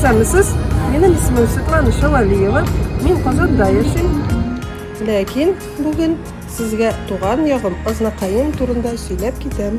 Исәнмесез, минем исемем Светлана Шалалиева, мин Казанда яшим. Ләкин бүген сезгә туган ягым Азнакаем турында сөйләп китәм.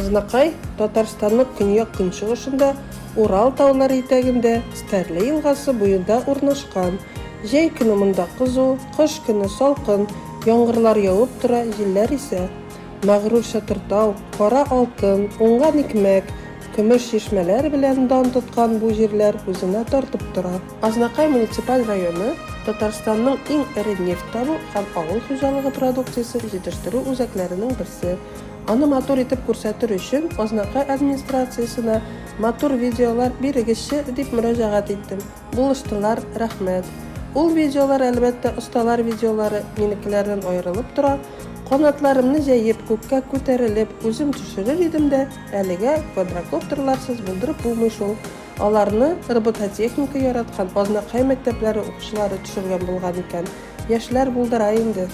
Азнакай, Татарстанның көньяк-көнчыгышында, Урал таулары итәгендә, Стәрле елгасы буенда урнашкан. Җәй көне монда кызу, кыш көне салкын, яңгырлар явып тора, җилләр исә. Мәгърур Чатыртау, кара алтын, уңган икмәк, көмеш чишмәләр белән дан тоткан бу җирләр үзенә тартып тора. Азнакай муниципаль районы Татарстанның иң эре нефть табу һәм авыл хуҗалыгы продукциясе җитештерү үзәкләренең берсе, Аны матур итеп күрсәтер өчен Азнакай администрациясенә матур видеолар бирегезче дип мөрәҗәгать иттем. Булыштылар, рәхмәт. Ул видеолар, әлбәттә, осталар видеолары, минекеләрдән аерылып тора. Канатларымны җәеп, күккә күтәрелеп, үзем төшерер идем дә, әлегә квадрокоптерларсыз булдырып булмый шул. Аларны робототехника яраткан Азнакай мәктәпләре укучылары төшергән булган икән. Яшьләр булдыра инде.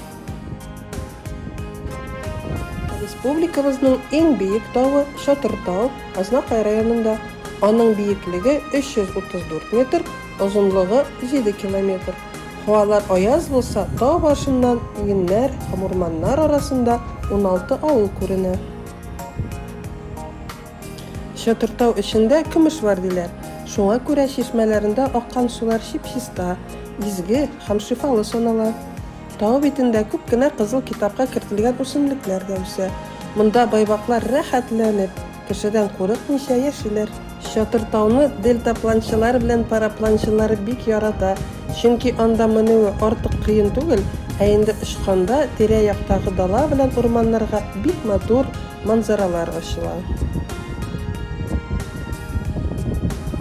Республикабызның иң биек тавы, Чатыр тау, Азнакай районында. Аның биеклеге 334 метр, озынлыгы 7 километр. Һавалар аяз булса, тау башыннан иңеннәр һәм урманнар арасында уналты авыл күренә. Чатыртау эчендә көмеш бар диләр. Шуңа күрә чишмәләрендә аккан сулар чип-чиста, изге һәм шифалы санала. Тау битендә күп кенә Кызыл китапка кертелгән үсемлекләр дә үсә. Монда байбаклар рәхәтләнеп, кешедән курыкмыйча яшиләр. Чатыртауны дельтапланчылар белән парапланчылар бик ярата, чөнки анда менүе артык кыен түгел, ә инде очканда тирә-яктагы дала белән урманнарга бик матур, манзаралар ачыла.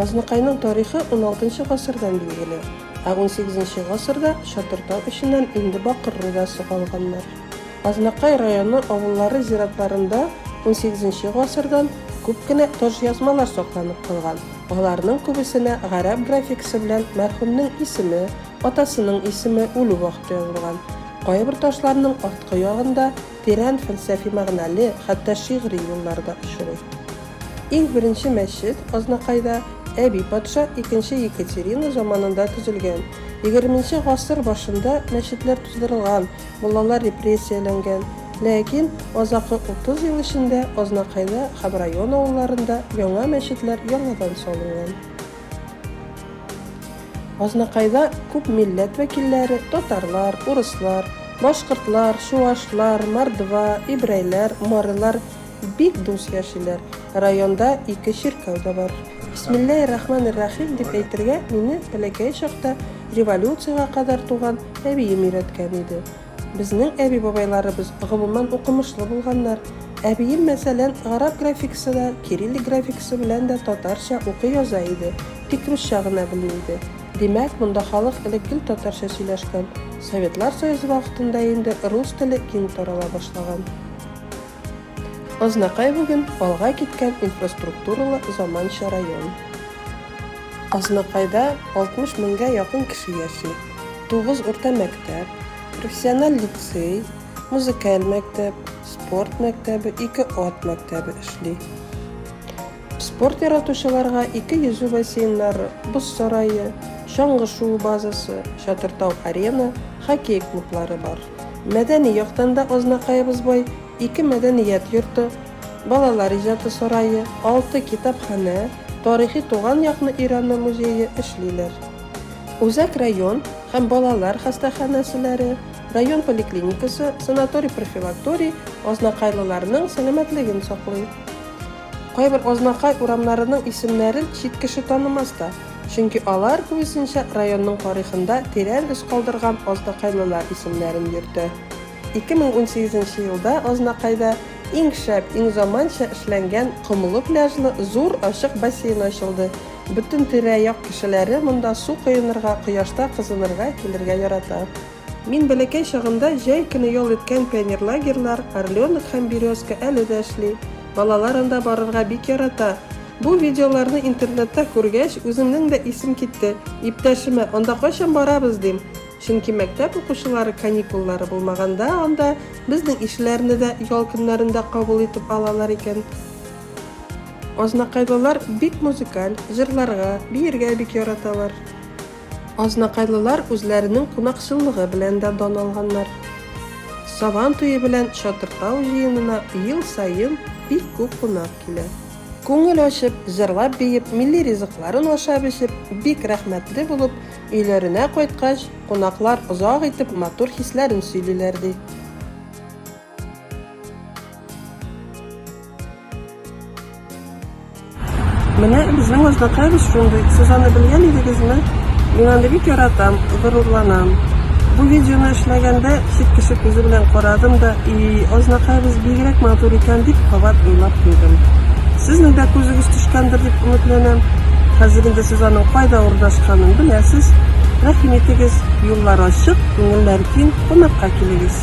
Азнакайның тарихы уналтынчы гасырдан билгеле, ә унсигезенче гасырда Чатыртау эченнән инде бакыр рудасы алганнар. Азнакай районы авыллары зиратларында унсигезенче гасырдан күп кенә таҗъязмалар сакланып калган, аларның күбесенә гарәп графикасы белән мәрхүмнең исеме, атасының исеме, үлү вакыты язылган. Кайбер ташларның арткы ягында тирән фәлсәфи мәгънәле, хәтта шигъри юллар да очрый. Иң беренче мәчет Азнакайда Әби патша икенче Екатерина заманында төзелгән. Егерменче гасыр башында мәчетләр туздырылган, муллалар репрессияләнгән. Ләкин азакы утыз ел эчендә Азнакайда һәм район авылларында яңа мәчетләр яңадан салынган. Азнакайда күп милләт вәкилләре, татарлар, урыслар, башкортлар, чуашлар, мордва, ибрайләр, марилар бик дус яшиләр. Районда ике чиркәү дә бар. Бисмилләһи рахманир рахим дип әйтергә мине бәләкәй чакта революциягә кадәр туган әбием өйрәткән иде. Безнең әби-бабайларыбыз гомумән укымышлы булганнар. Әбием, мәсәлән, гарәп графикасы да, кириллик графикасы белән дә татарча укый-яза иде, тик русча гына белми иде. Димәк, монда халык элек гел татарча сөйләшкән. Советлар Союзы вакытында инде рус теле киң тарала башлаган. Азнакай бүген алга киткән инфраструктуралы заманча район. Азнакайда 60 меңгә якын кеше яши. Тугыз урта мәктәп, профессиональ лицей, музыкаль мәктәп, спорт мәктәбе, ике ат мәктәбе эшли. Спорт яратучыларга ике йөзү бассейннары, боз сарае, чаңгы шуу базасы, Чатыртау-Арена, хоккей клублары бар. Мәдәни яктан да Азнакаебыз бай, ике мәдәният йорты, балалар иҗаты сарае, алты китапханә, тарихи туган якны өйрәнү музее эшлиләр. Үзәк район һәм балалар хастаханәселәре, район поликлиникасы, санаторий-профилакторий азнакайлыларның сәламәтлеген саклый. Кайбер Азнакай урамнарының исемнәрен чит кеше танымас та, чөнки алар, күбесенчә, районның тарихында тирән эз калдырган азнакайлылар исемнәрен йөртә. 2018 нче елда Азнакайда иң шәп, иң заманча эшләнгән комлы пляжлы зур ачык бассейн ачылды. Бөтен тирә-як кешеләре монда су коенырга, кояшта кызынырга килергә ярата. Мин бәләкәй чагымда җәй көне ял иткән пионерлагерьлар, Орленок һәм Березка әле дә эшли. Балалар анда барырга бик ярата. Бу видеоларны интернетта күргәч, үземнең дә исем китте. Иптәшемә, Анда кайчан барабыз? дим. Чөнки мәктәп укучылары каникуллары булмаганда анда безнең ишләрне дә ял көннәрендә кабул итеп алалар икән. Азнакайлылар бик музыкаль, җырларга, биергә бик яраталар. Азнакайлылар үзләренең кунакчыллыгы белән дә дан алганнар. Сабан туе белән Чатыртау җыенына ел саен бик күп кунак килә. Күңел ачып, җырлап-биеп, милли ризыкларын ашап-эчеп, бик рәхмәтле булып, өйләренә кайткач, кунаклар озак итеп матур хисләрен сөйлиләр, ди. Менә безнең Азнакаевич шундый. Сез аны белгән идегезме? Мин аны бик яратам, горурланам. Бу видеоны эшләгәндә чит кеше күзе белән карадым да, и Азнакаевич бигрәк матур икән дип кабат уйлап куйдым. Сезнең дә күзегез төшкәндер дип өметләнәм. Хәзер инде сез аның кайда урнашканын беләсез. Рәхим итегез, юллар ачык, күңелләр киң. кунакка килегез.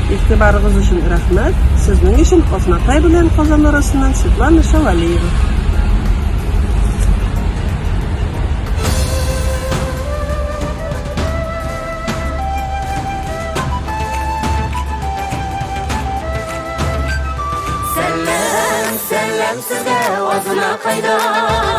Игътибарыгыз өчен рәхмәт, сезнең өчен Азнакай белән Казан арасыннан Светлана Шавалиева. Сәлләм, сәлләм сезгә Азнакайдан.